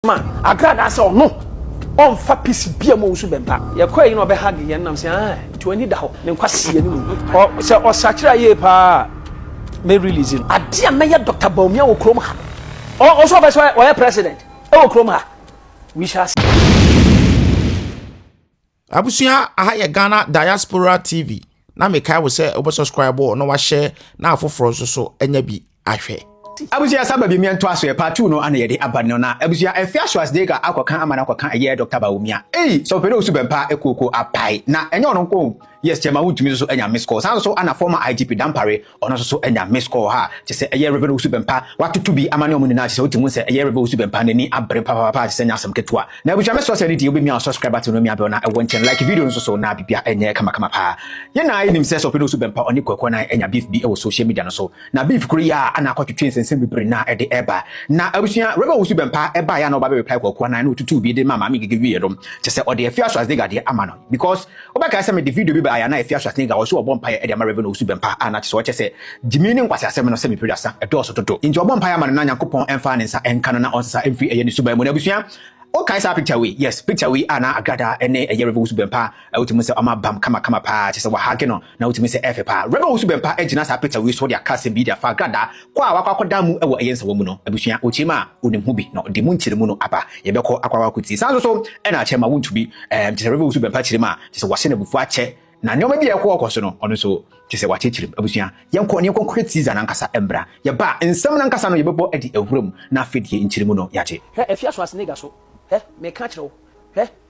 ma agradaa sɛ ɔno ɔmfa piece bia mu ɔwusu bɛmpa yɛkɔ ayi na ɔbɛ hug yɛn nam sɛ ah nti wani da hɔ ne nkwa si yɛn mu ɔ sɛ ɔsakyerɛ ayie paa mɛ release no adeɛ a mɛyɛ Dr. Bawumia wɔ kurom ha no ɔ ɔsɛ ɔbɛ sɛ ɔyɛ president ɛwɔ kurom ha we shall see. Abusua aha yɛ Ghana Diaspora TV na mekae wo sɛ wobɛ subscribe na wahyɛ na afoforɔ nso so anya bi ahwɛ. Abusua sa ba bi mmea ntoa so yɛ part two no ana yɛde aba no na abusua ɛfɛ aso as dega akɔka ama no akɔka ɛyɛ Dr. Bawumia ei sɛ ɔpɛ dɛ osu bɛmpa ɛkuoko apae na ɛnyɛ ɔno nko yes chairman wontumi nso so anya miss call saa nso ana former IGP Dampare Ɔno nso so anya missed call ha, kyerɛ sɛ ɛyɛ Rev. Owusu Bɛmpa. Watoto bi ama ne wɔn nyinaa, kyerɛ sɛ wote mu sɛ ɛyɛ Rev. Owusu Bɛmpa, n'ani abere papaapa, kyerɛ sɛ ɛnyɛ asɛm ketewa. Na abusua mɛsrɛ wo sɛ ɛno deɛ wobɛmia wo subscribe button no mia bell no a ɛwɔ nkyɛn, like video no nso so na biribiara ɛnyɛ kamakama paa. Yɛn nyinaa yɛnim sɛ sɛ ɔpɛn Owusu Bɛmpa ɔne Kwaku Anan anya beef bi wɔ social media no so. Na beef koro yi a na akɔtwetwe nsɛnsɛm bebree na ɛde reba. Na abusua Rev. Owusu Bɛmpa baeɛ a na ɔba bɛ reply Kwaku Anan na ɔtutuu bi de maa Maame Ngige wieɛ no, kyerɛ sɛ ɔde Afie Aso Asdega deɛ ama no because Wobɛkae sɛ mede video bi bae a na Afia Schwarzenegger a ɔse ɔbɔ mpaeɛ de ama Rev Owusu Bempah a na kyesɛ ɔkyɛ sɛ gyimii ne nkwaseasɛm no sɛ me peduasa ɛdɔɔso dodo nti ɔbɔ mpaeɛ ama no na Nyankopɔn ɛmfa ne nsa ɛnka no na ɔnsesa ɛmfiri ɛyɛ ne suban mu no abusua wokae saa picture wei yes picture wei a na Agrada ɛne ɛyɛ Rev Owusu Bempah a wotumi sɛ ɔma bam kama kama paa kyesɛ wahage no na wotumi sɛ ɛfɛ paa Rev Owusu Bempah agyina saa picture wei so de aka asɛm bi de afa Agrada Kɔ a wakɔ akɔda mu wɔ ɛyɛ nsawɔ mu no, abusua, ɔkyerɛ mu a ɔnim ho bi na ɔde mu nkyerɛ mu no aba. Yɛbɛkɔ akɔ akɔ akɔtie. Saa nso so na akyɛ ma wontu bi. Ɛɛm, kyerɛ sɛ Rev. Owusu Bɛmpa kyerɛ mu a, kyerɛ sɛ wɔahyɛ no abufuo akyɛ. Na nneɛma bi a ɛkɔ ɔkɔ so no, ɔno nso kyerɛ sɛ wɔakyerɛkyerɛ mu. Abusua, yɛnkɔ na yɛnkɔ nkɔhwɛ teaser no ankasa mmra. Yɛba a, nsɛm no ankasa no yɛbɛbɔ de awura mu, na afei deɛ nkyerɛ mu no yɛagye. Hwɛ, afie asoasenega so. Hwɛ, meka kyerɛ wo, hwɛ,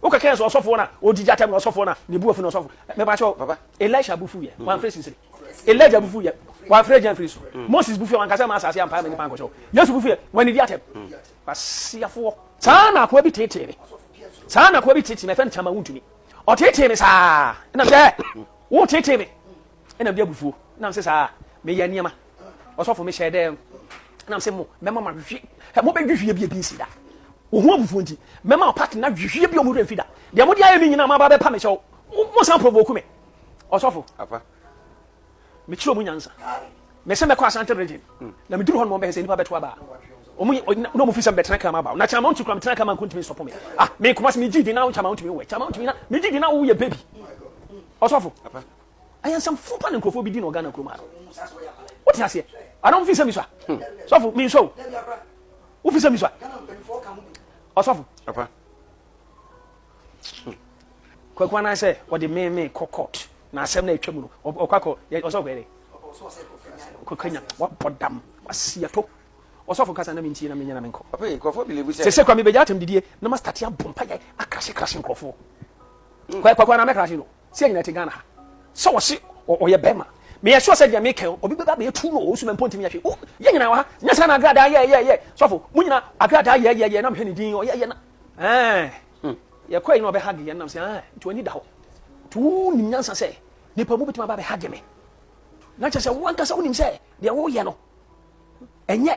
Wo keke nso ɔsɔfo na odi gya tɛm na ɔsɔfo na ne bu afu na ɔsɔfo. Me ba cho papa. Elisha bu fu ye. Wan fre sisiri. Elijah bu fu ye. Wan fre gyan fri so. Moses bu fu ye wan kasa ma asase ampa ma nipa anko cho. Yesu bu fu ye. Wan ni di atɛm. Kwasiafo wo. Saa na akoa bi tete me. Saa na akoa bi tete me fem chama wuntumi. Ɔtete me saa. Na me dɛ. Wo tete me. Nna mede abufuo nam se saa meyɛ nneɛma ɔsɔfo mehyɛɛ dɛ nam se mo mɛma mo ahwehwe hɛ mo bɛhwehwie bi ebi nsi da wɔ ho abufuo nti mɛma ɔpate na hwehwie bi ɔmo werɛ mfi da deɛ mo de ayɛ me nyinaa mo aba bɛpa me kyɛw mo san provoke me ɔsɔfo apa mekyerɛ ɔmo nyansa mese mɛkɔ asante region hmm. na meduru hɔ no mɔbɛhɛ sɛ nnipa bɛto aba ɔmo na ɔmo fi sɛ mebɛtena kama aba na kyɛn ma ɔntumi kura metena kama nkontumi nsɔpɔ me ah me nkɔmɔ se megye di na wo kyɛn ma ɔntumi wɔ kyɛn ma ɔntumi na megye di na wo yɛ baby ɔsɔfo Ayansafo pa ne nkurɔfoɔ bi di na ɔgana kurom ha no. Wote aseɛ? Ana wofi sɛ mi so a? Hmm. Sɔfo, mi nsɔ o. Wofi sɛ mi so a? Ɔsɔfo. Apa. Kwaku anan sɛ ɔde meeme kɔ court na asɛm na atwa mu no ɔkɔ akɔ ɔsɔfo yɛ dɛ. Kɔkanya wabɔ dam wasiato ɔsɔfo kasa na mentie na menyɛ na menkɔ sɛ sɛ kwa mebɛgya atɛm didie na mastate abɔ mpayɛ akrahye krahye nkurɔfoɔ hmm. kwakwa na mɛkrahye no Sia nyina te Ghana ha sɛ ɔse ɔyɛ bɛma. Meyɛ sure sɛ deɛ meka yi obi bɛba bɛyɛ tu no ɔwɔ sumɛ mpo ntumi yɛ hwee. Wo yɛ nyina wɔ ha nyɛ saa na agradaa yɛ yɛ yɛ sɔfo mo nyina agradaa yɛ yɛ yɛ na mehwɛ ne din ɔyɛ yɛ na ɛɛ hmm. yɛ kɔɛ yi na ɔbɛ hage yɛ nam sɛ ɛɛ nti wani da hɔ nti wo nim nyansa sɛ nipa mu bituma ba bɛ hage me na kyɛ sɛ wo ankasa wo nim sɛ deɛ wo yɛ no ɛnyɛ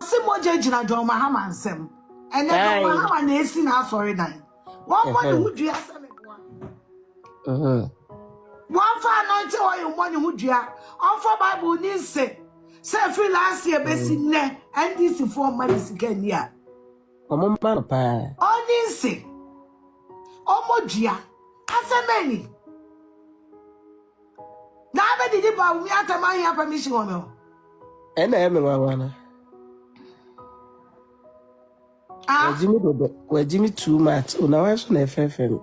Ɔse mogya gyina John Mahama nsɛm. Ɛnɛ John Aye. Mahama na esi n'asɔredan. Wɔmmɔ ne ho dua sɛ meboa. Mhm. Wɔmfa anointing oil mmɔ ne ho dua. Ɔmfa Bible ni nse sɛ ɛfiri last year besi nnɛ NDC foɔ mma ne sika nni a. Ɔmo mma no paa. Ɔnni nse. Ɔmmɔ dua. Asɛm bɛn ni? Naa bɛ didi ba o mi atɛ ma hia permission wɔ me hɔ. Ɛna ɛyɛ me nwanwa no. Ah. Wagye me dodo, wagye me too much. O na wan so na ɛfɛfɛ me.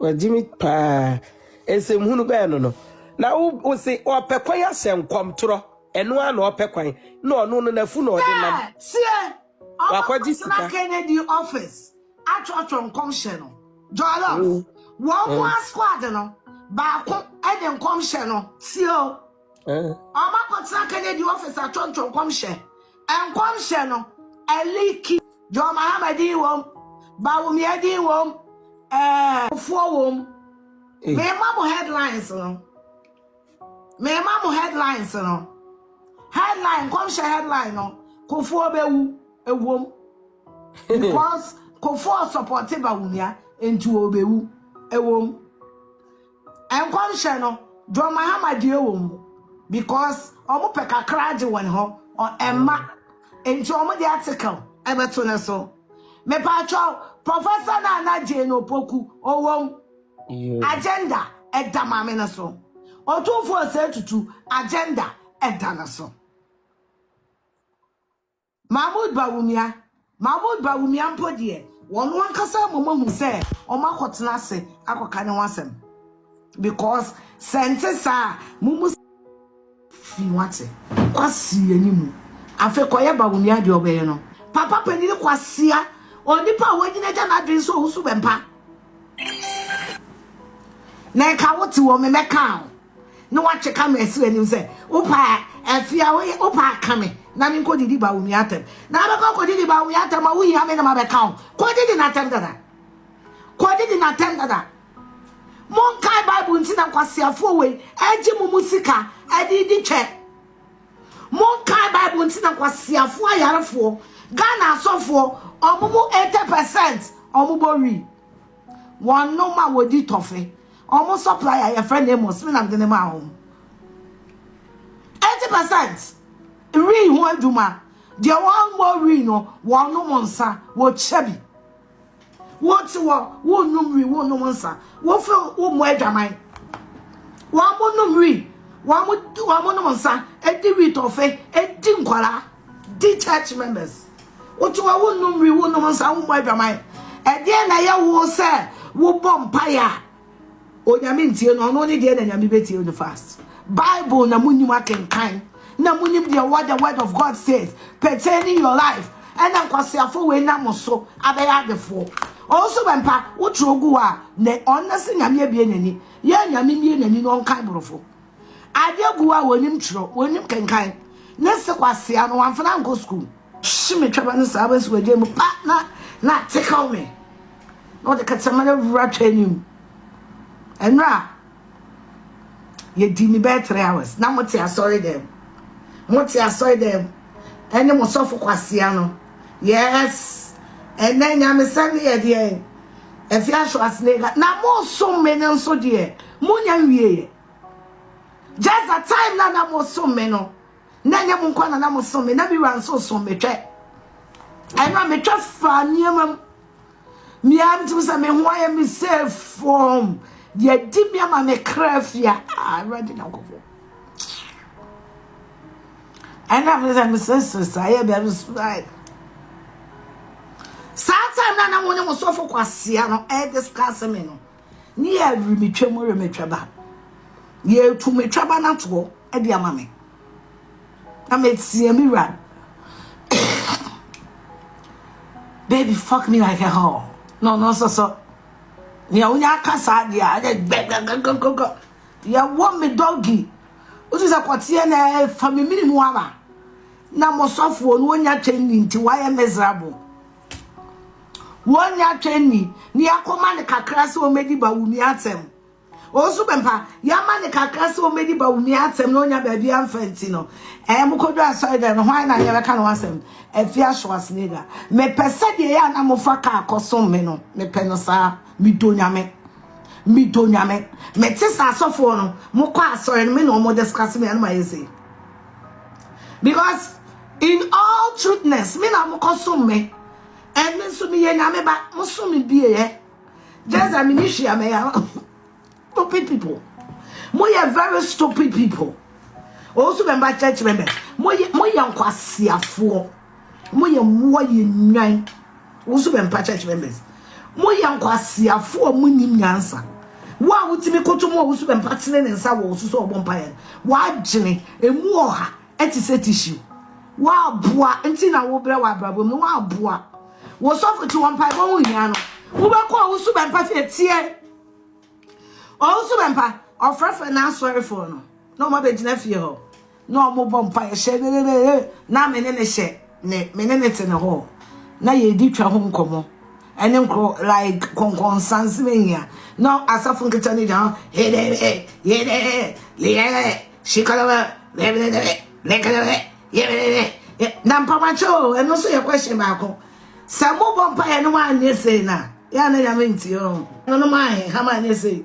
Wagye me paa. Nsɛm hunu bɛɛ no no. Na wo wo se ɔpɛ kwan ahyɛ nkɔmtorɔ. Ɛno a na ɔpɛ kwan. Na ɔno no nafu na ɔde nam. Sɛ, sie. Wakɔgye sika. Ɔbɛkɔtena Kennedy office atwerɛtwerɛ nkɔmhyɛ no. Jollof, wɔn mu a squad no baako de nkɔmhyɛ no sie o. Ɔbɛkɔtena Kennedy office atwerɛtwerɛ nkɔmhyɛ. Nkɔmhyɛ no ɛliki. John Mahama din wom, Bawumia din wom, ɛɛ foɔ wom. Mema mo headlines no. Mema mo headlines no. Headline, nkɔmhyɛ headline no, Kofoɔ bɛwu, ɛwom. Because Kofoɔ supporte Bawumia, nti ɔbɛwu, ɛwom. Nkɔmhyɛ no, John Mahama deɛ wɔ mu, because wɔn pɛ kakra agye wɔn hɔ, ɛmma, nti wɔn de article ɛbɛto ne so. Mepatwɔ, Professor Nana Jane Opoku, ɔwɔ mu. Agenda ɛda maame no so. Otumfoɔ Osei Tutu agenda ɛda no so. Mahmoud Bawumia, Mahmoud Bawumia mpo deɛ, wɔn ankasa mmom ahu sɛ wɔn akɔtena ase akɔka ne ho asɛm. Because sɛ nte saa a, mo mu. Fi wate. Kwasi yɛnyi mu. Afei kɔyɛ ba wo nua deɛ ɔbɛyɛ no. Papa panyini kwasea onipa a wanyini agya n'adwene sɛ ɔwusu bɛmpa na ɛka wo te wɔ me mɛka wo na watwe ka me ɛsrɛ anim sɛ wopa afi a woyɛ wopa aka me na me nkɔ didi ba wo nua atɛm na abɛkɔ kɔ didi ba wo nua atɛm a wohia me na mabɛka wo kɔ didi n'atɛm dada kɔ didi n'atɛm dada Monkae Bible nti na nkwaseafoɔ wei regye mo mu sika de di twɛ. Monkae Bible nti na nkwaseafoɔ ayarefoɔ Ghana asɔfoɔ wɔn mu 80 percent wɔn bɔ wi. Wɔn nom a wɔdi tɔfe wɔn supply a yɛfrɛ no Amos me na mede ne maa wɔn. 80 percent wi ho adwuma deɛ wɔn bɔ wi no wɔn nom nsa wɔkyɛ bi. Wote hɔ, wonnom wi, wonnom nsa. Wofe wommɔ adwaman. Wɔn mo nom wi, wɔn mo wɔn mo nom nsa, edi wi tɔfe, edi nkwara, di church members. Wote hɔ, wonnom wi, wonnom nsa, wommɔ adwaman. Ɛdeɛ na ɛyɛ wo sɛ wobɔ mpaeɛ a Onyame ntie no ɔno ne deɛ na nyame bɛtie no fast bible na monim akenkan na monim deɛ what the word of God says pertaining your life ɛna nkwaseafo wei na mo so abɛyɛ adefoɔ ɔnso bɛmpa wotwerɛ ogu hɔ a na ɔnna se nyame abie n'ani yɛ nyame mie n'ani no ɔnkan borɔfo adeɛ gu hɔ a wɔnim twerɛ wɔnim kenkan ne se kwasea no wamfana nkɔ sukuu Hye me twaba no saa bɛsi w'agya mu pa na na atekaw me na ɔde kakyɛma no awura twa anim ɛno a yɛdi ne bɛyɛ three hours na mote asɔre dɛm mote asɔre dɛm ɛne mo sɔfo kwasea no yes ɛnɛ nyamesɛm ne yɛdeɛ ɛfi ahwɛ asene ka na mosom me no nso deɛ monya nwieɛ just the time na na mosom me no na ɛnyɛ mo nkwa na na mo som me na me wura nso som me twɛ ɛno a metwa fa nneɛma mu mmea no tumi sɛ me ho ayɛ me sɛ fam yɛdi me ama me kra fia awurade nyankopɔn ɛno a mesɛ mesesere saa yɛ bɛm subae saa time na na mo ne mo sɔfo kwasea no ɛdiscuss me no ne yɛ remetwa mu remetwa ba yɛtu metwa ba no atoɔ de ama me na meteɛ me wura baby fuck me like a hall no no so so nea wonya aka saa deɛ a ɛdɛ gbɛgbɛgbɛgbɛgbɛ yɛwɔ me dɔgi wotu sɛ kɔteɛ na ɛfa me mene mu aba na mosɔfoɔ no wonya twɛn ni nti wayɛ miserable Wɔnya twɛn ni, ne yɛakɔma no kakra sɛ ɔmmɛdi Bawumia atɛm. Ɔnso bɛmpa, yɛama no kakra sɛ ɔmmɛdi Bawumia atɛm na ɔnya baabi amfa nti no, ɛɛ mokɔdu asɔre dɛm no, hwan na yɛbɛka ne ho asɛm? Afia Schwarzenegger. Mepɛ sɛ deɛ yɛ a na mofa kaa kɔsom me no, mepɛ no saa. Medɔ Nyame. Medɔ Nyame. Mete sɛ asɔfoɔ no, mokɔ asɔre no, me na wɔn discuss me a na mayɛ sei. because in all truthness me na mokɔsom me ɛne nso meyɛ nyame ba mosom me bieɛ just that mene hwia mɛyɛ stupid people moyɛ very stupid people also member church members moyɛ nkwasiafoɔ Mo yɛ mmoa yɛ nnwan. Wo nso bɛmpa church members. Mo yɛ nkwaseafo a mo nim nyansa. Wo a wotumi koto mo a wo nso bɛmpa tene ne nsa wɔ wo so sɛ ɔbɔ mpa yɛ. W'adwene emu ɔha ɛte sɛ tissue. W'aboa nti na wobrɛ w'abrabɔ mu. W'aboa. Wo sɔfo ti wɔn mpaebɔ ho hia no. Wobɛkɔ a wo nso bɛmpa fie teɛ. Ɔwo nso bɛmpa ɔfrɛfrɛ n'asɔrefoɔ no na wɔn abɛgyina fie hɔ. na ɔmo bɔ mpaeɛ hyɛ ne ne ne ne na me ne ne hyɛ me me ne ne te ne hɔ na yɛdi twa ho nkɔmɔ ɛne nkoro like kɔnkɔnsan se mehia na asafo nketa ne gya hedere yedere leyere shikalawa bɛbɛbɛbɛ bɛkɛlɛbɛ yɛbɛbɛbɛ na mpamakyɛ o ɛno nso yɛ question baako sɛ mobɔ mpaeɛ no mo anyɛ sei na yɛ a na nyame ntie o ɛno no mo ahe hama anyɛ sei